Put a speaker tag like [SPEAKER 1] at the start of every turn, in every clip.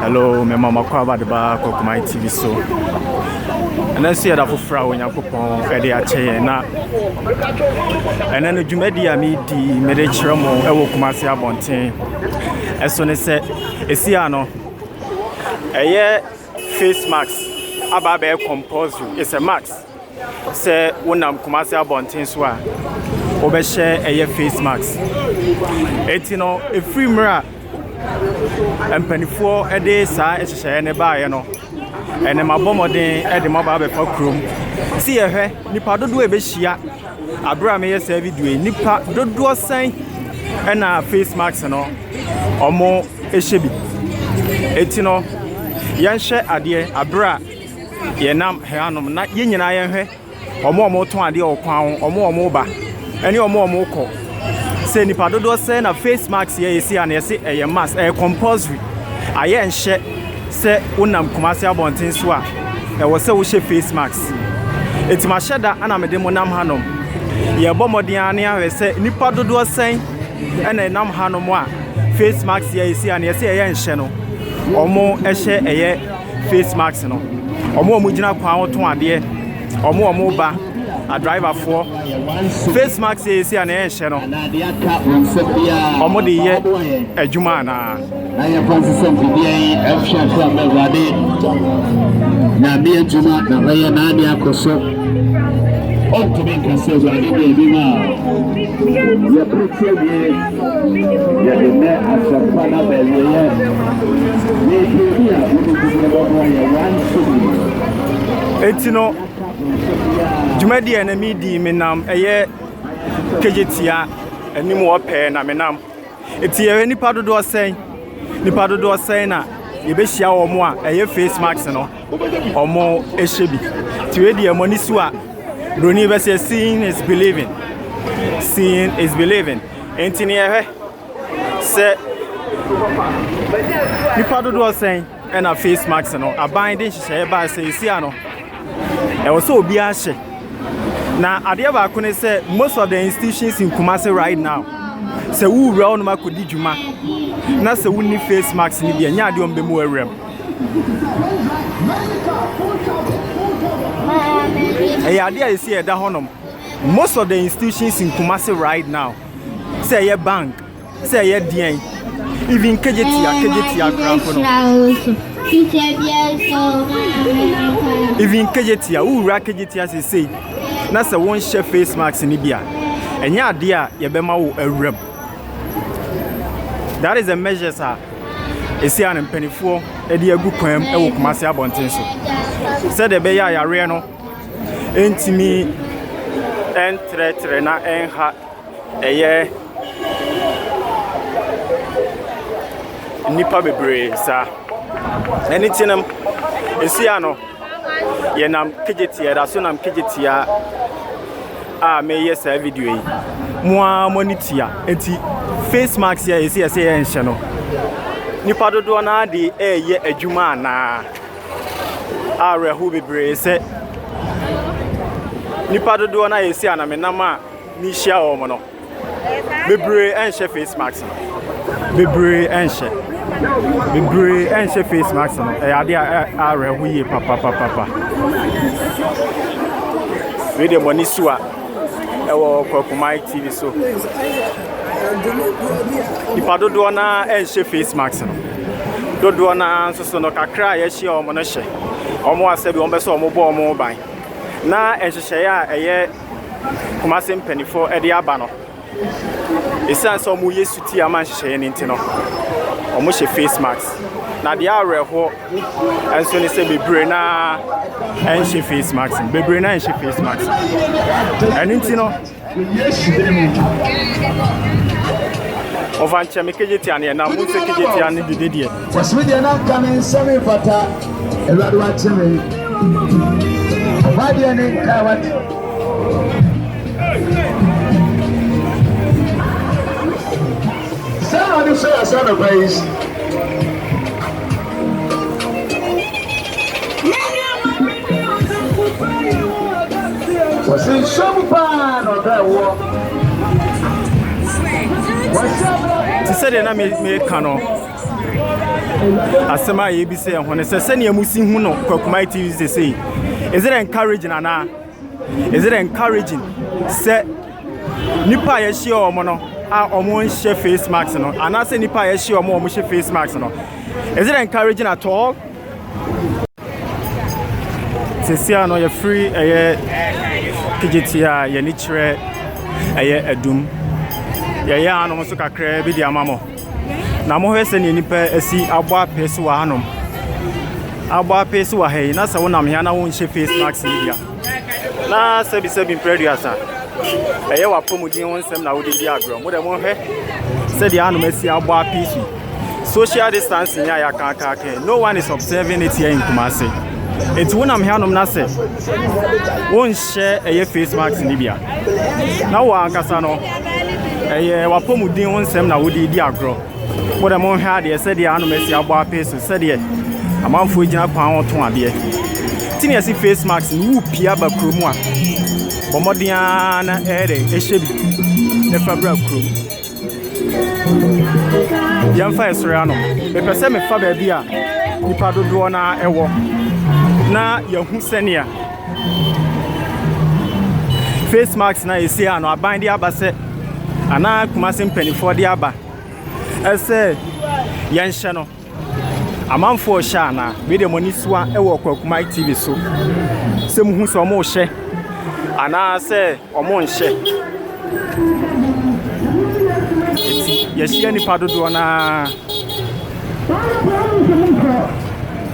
[SPEAKER 1] Hello, me mama Kwaba de ba Kokomai TV so. Ɛnɛ nso yɛda foforɔ a Onyankopɔn ɛde akyɛ yɛn na ɛnɛ no dwumadi a medi mede kyerɛ mo ɛwɔ Kumase abɔnten ɛso ne sɛ ɛsi a no ɛyɛ face mask aba abɛyɛ compulsory it's a mask Sɛ wonam Kumasi abɔnten so a, wobɛhyɛ ɛyɛ face mask. Eti no, efiri mmerɛ a mpanimfoɔ de saa nhyehyɛeɛ no baeɛ no, ɛnna mabɔ mmɔden de mo aba abɛfa kurom. Si yɛhwɛ nipa dodoɔ a ɛbɛhyia abere a meyɛ saa video yi, nipa dodoɔ sɛn ɛna face mask no wɔn hyɛ bi. Eti no, yɛnhwɛ adeɛ abere a. Yɛnam hanom na yɛn nyinaa yɛnhwɛ wɔn a wɔtɔn adeɛ wɔ kwan ho, wɔn a wɔreba ne wɔn a wɔrekɔ. Sɛ nipa dodoɔ sɛ na face mask yɛ yɛsi a na yɛsi ɛyɛ mask ɛyɛ compulsory. Ayɛ nhyɛ sɛ wonam Kumasi abɔnten so a ɛwɔ sɛ wohyɛ face mask. Eti mahyɛ da na mede mo nam hanom. Yɛbɔ mmɔden ara ne ahwɛ sɛ nipa dodoɔ sɛn ɛna ɛnam hanom a face mask yɛ yɛsi a na yɛsi ɛyɛ nhyɛ no wɔn ɛhyɛ ɛyɛ. face mask no wɔn a wɔgyina kwan ho tɔn adeɛ wɔn a wɔba adriverfoɔ face mask yɛ ɛsi a na ɛnhyɛ no wɔn de yɛ adwuma anaa na yɛfa nsesɛ
[SPEAKER 2] mfidie yi ɛhwɛ so a mɛwurade nyame adwuma na bɛyɛ naade akɔ so ɔntumi nkasɛ awurade deɛ bi ma a yɛpɛkyɛ wie Yɛde nnɛ asɛmpa no aba awieɛ. Yɛpie bi a wobɛtumi no bɛboa yɛ wanso
[SPEAKER 1] bi. Enti no, dwumadi a na medi menam ɛyɛ kegyetia anim hɔ pɛɛ na menam. Enti yɛyɛ nipa dodoɔ sɛn? Nipa dodoɔ sɛn na yɛbɛhyia wɔn a ɛyɛ face mask no? ɔmo ɛhyɛ bi ti wei deɛ mo ani so a broni bɛ sɛ seeing is believing seeing is believing nti ne yɛhwɛ sɛ nipa dodoɔ sɛn ɛna face mask no aban de nhyehyɛeɛ baa sɛ esi ano ɛwɔ sɛ obiara hyɛ na adeɛ baako ne sɛ most of the institutions in Kumasi right now sɛ wowura wo nom akɔdi dwuma na sɛ wonni face mask no deɛ nyɛ adeɛ ɔmbɛmu awura mu Ɛyɛ adeɛ a ɛsi ɛda hɔnom. Most of the institutions in Kumasi right now, sɛ ɛyɛ bank, sɛ ɛyɛ deɛn, even kejetia, kejetia koraafo no. Even kejetia, wowura kejetia sesei, na sɛ wonhyɛ face mask no bi a, ɛnyɛ adeɛ a yɛbɛma wo awuram. That is the measures a ɛsi a no mpanimfoɔ de agu kwan mu wɔ Kumasi abɔnten so sɛdeɛ ɛbɛyɛ a yareɛ no ntumi ntrɛtrɛ na ɛnha ɛyɛ nnipa bebree saa ɛne ti no ɛsi a no Yɛnam Kejetia, yɛda so nam Kejetia a meyɛ saa video yi. Mo ara mo ani tua. Nti face mask yɛ ɛsɛ yɛsɛ yɛ nhyɛ no. Nipa dodoɔ no ade ɛyɛ adwuma anaa? Awerɛho bebree sɛ nipa dodoɔ no a yɛsi anamenam a mehyia wɔn no. Bebree ɛnhyɛ face mask no. Bebree ɛnhyɛ. Bebree ɛnhyɛ face mask no. Ɛyɛ adeɛ a awerɛ ho yie papapapa. Wei deɛ mo ani so a ɛwɔ Kwakumae TV so. Nipa dodoɔ no ara ɛnhyɛ face mask no. Dodoɔ no ara nso so no kakra a yɛahyia wɔn no hyɛ. Wɔn asɛ bi wɔn bɛ sɛ wɔn bɔ wɔn ban. Na nhyehyɛeɛ a ɛyɛ. Kumase mpanimfoɔ de aba no, ɛsiane sɛ wɔyɛ suti ama nhyehyɛeɛ no nti no, wɔhyɛ face mask. Na deɛ awerɛhoɔ nso ne sɛ bebree no ara nhyɛ face mask no. Bebree no ara nhyɛ face mask. Ɛno nti no, ɔfa nkyɛn me kegye tia ne yɛ na mo nso kegye tia ne dede deɛ. Fɔse me deɛ na nka
[SPEAKER 2] me nsa me mfata Awurade wakye me Ɔba deɛ ne nka wakye Sɛ Awurade sɛ yasa no pa yi wɔsi nsɛm paa na ɔbɛ wɔ
[SPEAKER 1] wɔsi abira. ti sɛ deɛ na meka no asɛm a yɛbisa yɛn ho no sɛ sɛnea mo si hu no kwakumai tv sɛ sei is it encouraging anaa is it encouraging sɛ nipa a yɛhyia wɔn no a wɔn nhyɛ face mask no anaasɛ nipa a yɛhyia wɔn a wɔn hyɛ face mask no is it encouraging at all sisi ano yɛfiri ɛyɛ kejiti a yɛn ani kyerɛ ɛyɛ adum yɛyɛ ano nso kakra bi de ama mo. Na mohwɛ sɛnea nnipa asi abɔ apee so wɔ hanom. Abɔ apee so wɔ ha yi, na sɛ wonam hea na wonhyɛ face mask yi bia. Na sɛbisɛbi mprɛduasa. Ɛyɛ w'apɔmuden ho nsɛm na wode di agorɔ. Mo dɛ mohwɛ sɛdeɛ hanom asi abɔ apee so. Social distancing yɛ a yɛakaakaaka. No one is observing it here in Kumasi. Enti wonam hanom na sɛ wonhyɛ ɛyɛ face mask no bia. na wo ankasa no ɛyɛ w'apɔmuden ho nsɛm na wode di agorɔ mo dɛ monhwɛ adeɛ sɛdeɛ anom asi abɔ apee so sɛdeɛ amanfoɔ gyina kwan ho to adeɛ ti ne ɛsi face mask no wo pia ba kurom a bɔ mmɔden ara na ɛyɛ dɛ ɛhyɛ bi na fa bra kurom yɛmfa ɛsrɛ ano mepɛ sɛ mefa baabi a nipa dodoɔ no a ɛwɔ na yɛhu sɛnea face mask na ɛsi ano aban de aba sɛ anaa kumase mpanimfoɔ de aba ɛsɛ yɛnhyɛ no Amanfoɔ hyɛ anaa? Wei deɛ mo ani soa wɔ Kwakumai TV so sɛ mo hu sɛ ɔmo hyɛ anaa sɛ ɔmo nhyɛ. Eti yɛhyia nipa dodoɔ naa.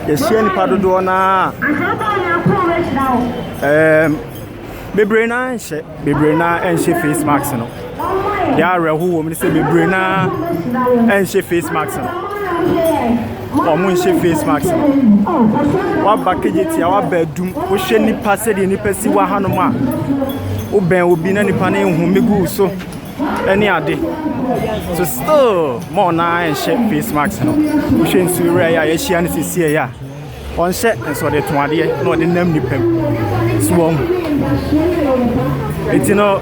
[SPEAKER 1] Yɛhyia nipa dodoɔ naa. Ɛɛm. bebree no ara nhyɛ bebree no ara nhyɛ face mask no deɛ awerɛho wɔ mu no sɛ bebree no ara nhyɛ face mask no wɔn nhyɛ face mask no waba kegyetia waba adum wohwɛ nipa sɛdeɛ nipa si wɔ hanom a wobɛn obi na nipa no nhome gu so ɛne ade so still mɔɔ no ara nhyɛ face mask no wohwɛ nsuo wura yɛ a yɛahyia no sisi yɛ a Ɔnhyɛ nso ɔde to adeɛ na ɔde nam nipa mu so wɔn nti no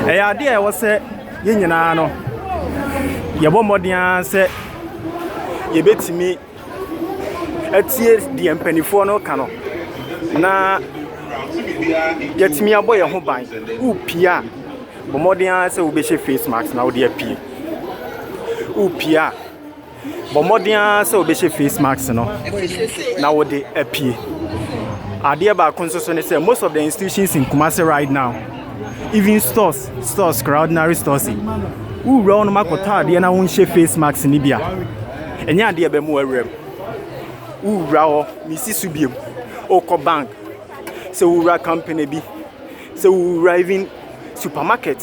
[SPEAKER 1] ɛyɛ adeɛ a ɛwɔ sɛ yɛn nyinaa no yɛbɔ mmɔden ara sɛ yɛbɛtumi atie deɛ mpanimfoɔ no ka no na yɛtumi abɔ yɛn ho ban wopie a bɔ mmɔden ara sɛ wobɛhyɛ face mask na wode apue wopie a Bɔ mmɔden ara sɛ wobɛhyɛ face mask no na wode apue. Adeɛ baako nso so ne sɛ most of the institutions in Kumasi right now, even stores, stores koraa ordinary stores yi, wowura wo nom akɔtɔ adeɛ na wonhyɛ face mask no bi a, ɛnyɛ adeɛ ɛbɛ mu awura mu. Wowura hɔ, mesi so biom, wokɔ bank, sɛ wowura company bi, sɛ wowura even supermarket,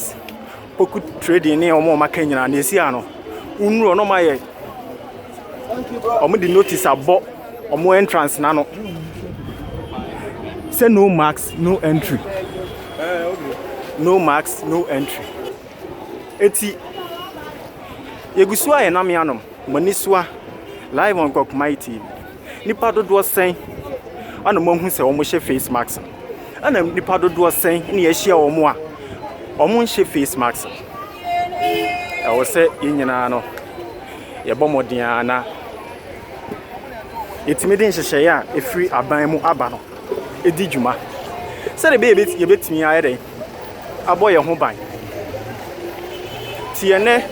[SPEAKER 1] Kpoku trading ne wɔn a wɔaka nyinaa nea ɛsi ha no wonuru hɔ na wɔayɛ wɔde notice abɔ wɔn entrance n'ano sɛ no mask no entry no mask no entry eti yɛgu so a yɛnam yɛn anom. Moanisua live on Gokmai TV. Nipa dodoɔ sɛn ɛna moahu sɛ wɔn hyɛ face mask no? Ɛna nipa dodoɔ sɛn na yɛahyia wɔn a wɔn nhyɛ face mask no? Ɛwɔ sɛ yɛn nyinaa no yɛbɔ mmɔden a na yɛtumi de nhyehyɛeɛ a ɛfiri aban mu aba no ɛdi dwuma sɛdeɛ ɛbɛyɛ yɛbɛtumi ayɛ dɛn abɔ yɛn ho ban. Tiɛ nɛ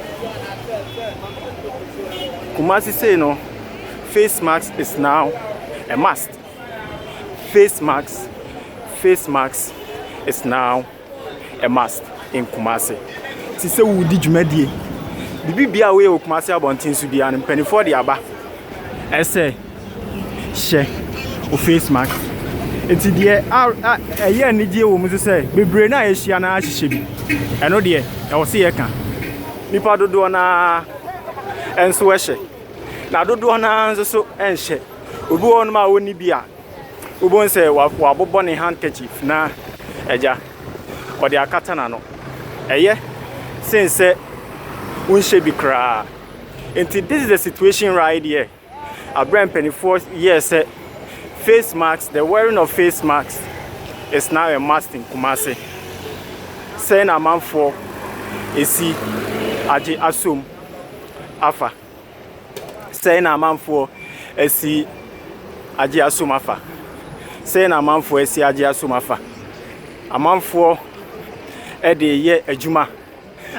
[SPEAKER 1] Kumasi say no face mask is now a must. Face mask, face mask is now a must in Kumasi. Ti sɛ wodi dwumadie. Bibi bia woyɛ wɔ Kumasi abɔnten so biara no mpanimfoɔ de aba. Ɛsɛ. hyɛ wo face mask. Nti deɛ ɛyɛ anigyeɛ wɔ mu nso sɛ bebree no a yɛahyia no ahyehyɛ bi. Ɛno deɛ ɛwɔ sɛ yɛka. Nnipa dodoɔ no ara nso hyɛ. Na dodoɔ no ara nso so nhyɛ. Obi wɔ hɔnom a ɔnni bi a wobɛhu sɛ wabobɔ ne handkerchief na agya ɔde akata n'ano. Ɛyɛ sen sɛ wonhyɛ bi koraa. Nti this is the situation right here. Abrɛ mpanimfoɔ yɛɛ sɛ face mask the wearing of face mask is now a must in Kumasi. Sɛn na amanfoɔ esi agye asom afa? Sɛn na amanfoɔ esi agye asom afa? Sɛn na amanfoɔ esi agye asom afa? Amanfoɔ ɛde yɛ adwuma.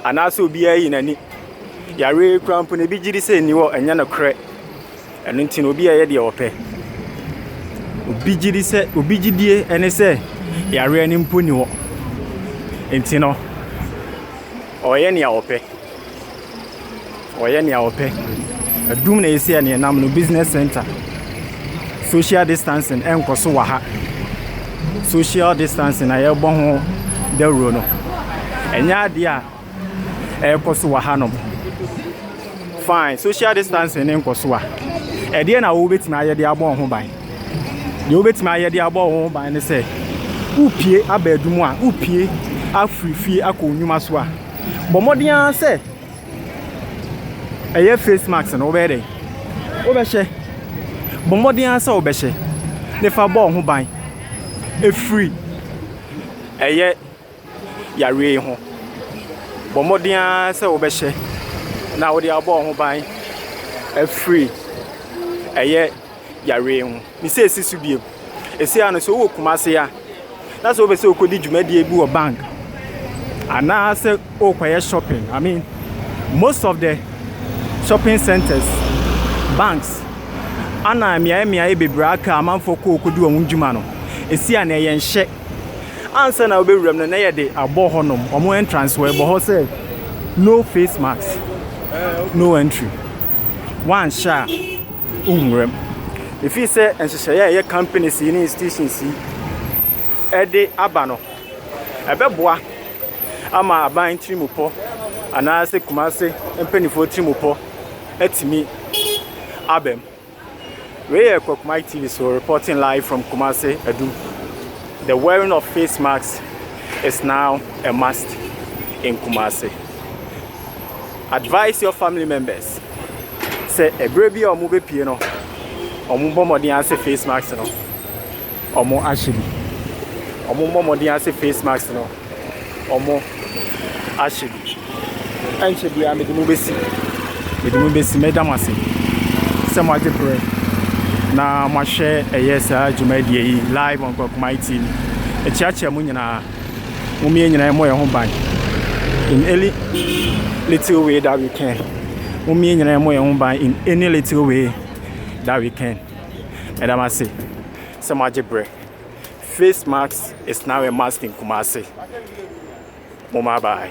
[SPEAKER 1] anaasɛ obiara ayi n'ani. Yareɛ yi koraa mpo no, ebi gye di sɛ nni hɔ, ɛnyɛ nokorɛ. Ɛno nti no, obi yɛ deɛ ɔpɛ. Obi gye di sɛ, obi gyidie ne sɛ yareɛ no mpo nni hɔ. Nti no, ɔyɛ nea ɔpɛ. Wɔyɛ nea wɔpɛ. Adum na esi ɛne ɛnam no business center. Social distancing ɛnkɔ so wɔ ha. Social distancing a yɛbɔ ho dawuro no, ɛnyɛ adeɛ a ɛrekɔ so wɔ ha nom. Fine, social distancing ne nkɔ so a, ɛdeɛ na wobɛtumi ayɛ de abɔ ho ban. Deɛ wobɛtumi ayɛ de abɔ ho ban ne sɛ, wopie aba adum a, wopie afiri fie akɔ nnwuma so a, bɔ mmɔden ara sɛ ɛyɛ face mask no wobɛyɛ dɛ wobɛhyɛ bɔ mmɔden ara sɛ wobɛhyɛ ne fa bɔ ho ban ɛfiri ɛyɛ yareɛ yi ho bɔ mmɔden ara sɛ wobɛhyɛ na wode abɔ ho ban ɛfiri ɛyɛ. yareɛ ho. Ne sɛ ɛsi so bio. Ɛsei ano sɛ wowɔ Kumase a, na sɛ wopɛ sɛ wokɔdi dwumadie bi wɔ bank anaasɛ wokɔyɛ shopping. I mean, most of the shopping centers, banks, ana mmeaeɛ mmeaeɛ bebree aka amanfoɔ kɔ kɔdi wɔn dwuma no. Ɛsi ano ɛyɛ nhyɛ. Ansa na wobɛwuram no, na yɛde abɔ hɔnom, wɔn entrance wɔ ɛbɔ hɔ sɛ no face mask, no entry. Wanhyɛ a. nwura mu. Ɛfiri sɛ nhyehyɛeɛ a ɛyɛ companies yi ne institutions yi de aba no, ɛbɛboa ama aban tirimupɔ anaasɛ Kumase mpanimfoɔ tirimupɔ atumi aba mu. Wei yɛ Kwakumai TV so reporting live from Kumase Adum. The wearing of face masks is now a must in Kumase. Advise your family members sɛ ɛberɛ bi a wɔbɛpie no, wɔmmɔ mmɔden ase face mask no wɔn ahyɛ bi. Wɔmmɔ mmɔden ase face mask no wɔn ahyɛ bi. Ɛnkyɛ biara mede mo bɛsi mede mo bɛsi mɛda mo ase sɛ moagye berɛ na moahwɛ ɛyɛ saa dwumadie yi live on Kwakuma TV. Ɛkyeakyea mu nyinaa. Mom yɛn nyinaa yɛmmɔ yɛn ho ban in any little way that we can. Mom yɛn nyinaa yɛmmɔ yɛn ho ban in any little way that we can. Meda mo ase sɛ moagye berɛ. Face mask is now a mask in Kumasi. Mom bye bye.